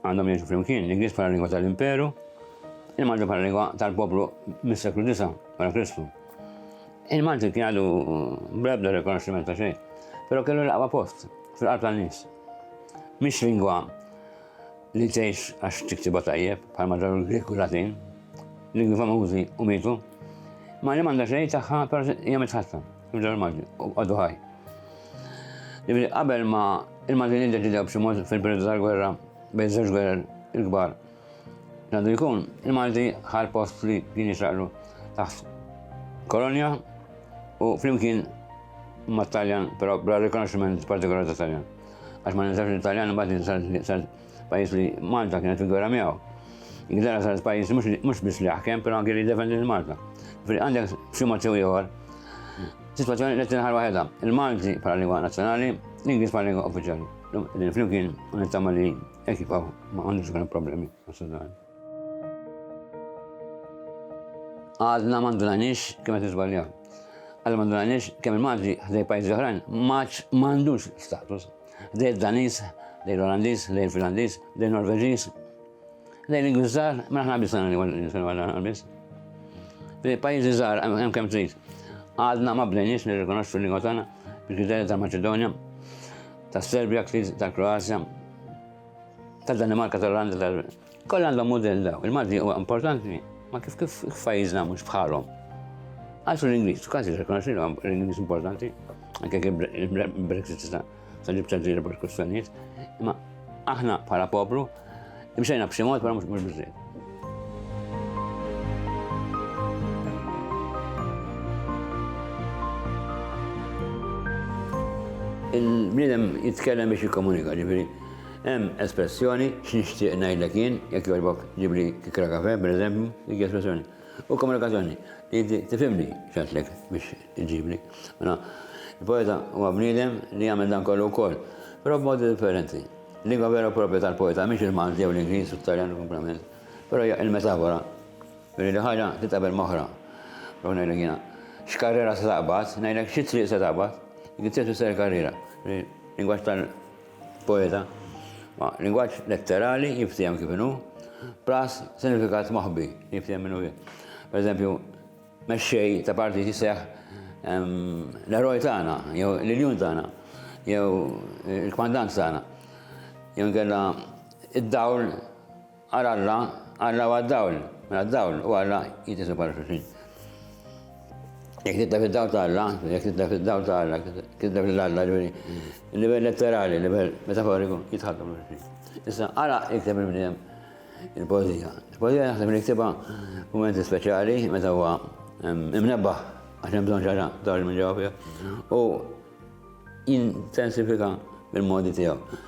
Għandhom jgħixu flimkien l-Ingliż bħala lingwa tal-Imperu, il-Malti bħala lingwa tal-poplu mis-seklu 9 wara Kristu. Il-Malti kien għadu brebda rikonoxximent ta' xejn, però kellu l-aqwa post fil-qalb tan-nies. Mhix lingwa li tgħix għax tiktiba tajjeb bħal ma ġaru l-Grek u Latin, lingwi famużi u mitu, ma li m'għandha xejn tagħha però hija mitħatta, ġew il-Malti, u għadu ħaj. Ġifieri qabel ma il-Maltin iddeċidew b'xi mod fil-periodu tal-gwerra bejn żewġ gwerer il-kbar. Għandu jkun, il-Malti ħal post li kien jixraqlu taħt kolonja u flimkien ma' Taljan, però bla rikonoxximent partikolari ta' Taljan. Għax ma ninsax li Taljan imbagħad pajjiż li Malta kienet il-gwerra miegħu. Ingilterra saret pajjiż mhux biss li jaħkem, però anke li jiddefendi lil Malta. Fri għandek xi mod sew ieħor. Sitwazzjoni li tinħar waħedha. Il-Malti bħala lingwa nazzjonali, l-Ingliż bħala lingwa uffiċjali. Din flimkien nittama li ekif ma għandux problemi. Għadna ma ndunanix kemm qed niżbaljaw. Għadna ma ndunanix kemm il-Malti ħdej pajjiżi oħrajn maċ m'għandux status. Ħdej id-Daniż, ħdej l-Olandiż, ħdej il-Finlandiż, ħdej il-Norveġiż. Ħdej l-Ingliżżar, ma aħna biss għandna biss. Ħdej pajjiżi żgħar hemm kemm trid. Għadna ma bdejniex nirrikonoxxu l-lingwa tagħna bil-kriterji tal-Maċedonja, tas-Serbja, tal-Kroazja, Tad-Danimarka, tal-Olanda, tal Koll għandhom mudell daw. Il-Malti huwa importanti, ma kif kif f'pajjiżna mhux bħalhom. Għalsu l-Ingliż, kważi rikonoxxi l-Ingliż importanti, anke kif Brexit ta' ta' ġib ta' ġiri bħal kustanijiet, imma aħna bħala poplu, imxejna b'xi mod bħala mhux biżżejjed. Il-bniedem jitkellem biex jikkomunika, ġifieri hemm espressjoni x'nixtieq ngħidlek jien, jekk jogħġbok ġibli kikra kafe, pereżempju, dik espressjoni. U komunikazzjoni, li tifhimni x'għedtlek biex iġibli. Mela, il-poeta huwa bniedem li jagħmel dan kollu wkoll, però b'modi differenti. Lingwa vera u proprja tal-poeta mhix il-Malti jew l-Ingliż u t-Taljan u kumplament, però hija il-metafora li li ħaġa titqabel m'oħra. Prova ngħidlek jiena, x'karriera se taqbad, ngħidlek xi triq se taqbad, dik it-triq tfisser il-karriera. Lingwaġġ tal-poeta, ma lingwaġġ letterali jinftiehem kif inhu, plus sinifikat moħbi jinftiehem min hu jien. Per eżempju, Mexxej ta' partit jisseħ l-eroj tagħna, jew l-iljun tagħna, jew il-kmandant tagħna. Jew nkella id-dawl għal Alla, Alla huwa d-dawl, mela d-dawl u Alla jitisu bħal xulxin. Jekk tibda fid-dawl ta' Alla, jekk tibda fid-dawl ta' Alla, tibda fil-Alla, ġifieri, il-livell letterali, il-livell metaforiku jitħaddu xulxin. Issa, għala jikteb il-bniedem Il-poezija. Il-poezija naħseb li niktibha f'mumenti speċjali meta huwa imnebbaħ għax hemm bżonn ġara dawġ minn ġewwa u jintensifika bil-modi tiegħu.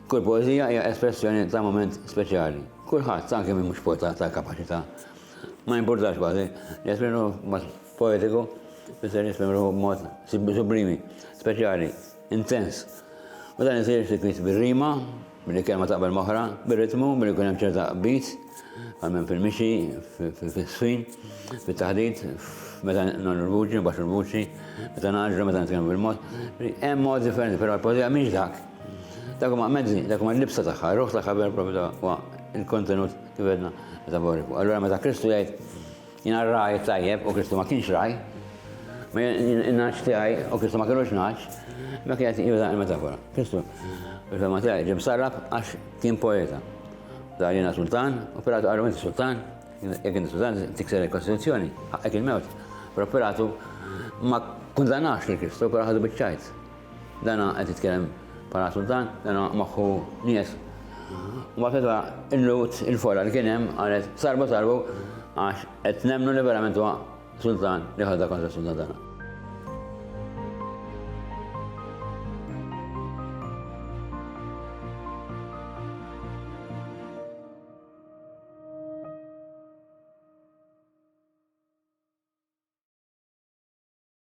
Kull poezija hija espressjoni ta' moment speċjali. Kulħadd anke minn mhux poeta ta' kapaċità. Ma jimpurtax kważi, jesprimu mod poetiku, fisser jesprimu mod sublimi, speċjali, intens. U dan isir ftit bir-rima, Billi kelma taqbel moħra, bir-ritmu, billi jkun hemm ċerta qbid, għalmen fil-mixi, fil-swin, fil-taħdit, meta nagħmlu l-vuċi, baxu l-vuċi, meta naġru, meta nitkellmu bil-mod. Hemm mod differenti, però l-poezija mhix dak. Dak huma mezzi, dak huma l-libsa tagħha, ruħ tagħha vera propju huwa il-kontenut kif għedna metaforiku. Allura meta Kristu jgħid Jien r-ragħaj it-tajjeb u Kristu ma kienx ragħaj, in-nagħaġ tiegħi u Kristu ma kinux nagħaġ, dak li qed juża l-metafora. Kristu fil-fema tiegħi ġie msarraf għax kien poeta. Dar jiena sultan u Pilatu qalu inti sultan, jekk inti sultan tikser il-Kostituzzjoni, ħaqqek il-mewt. Però Pilatu ma kundannax lil Kristu, però ħadu biċ-ċajt. Dana qed jitkellem bħala sultan, dana moħħu nies. Mbagħad meta illut il-fora li kien hemm qalet sarbu sarbu għax qed nemmnu li verament huwa sultan li ħadha kontra sultan tagħna.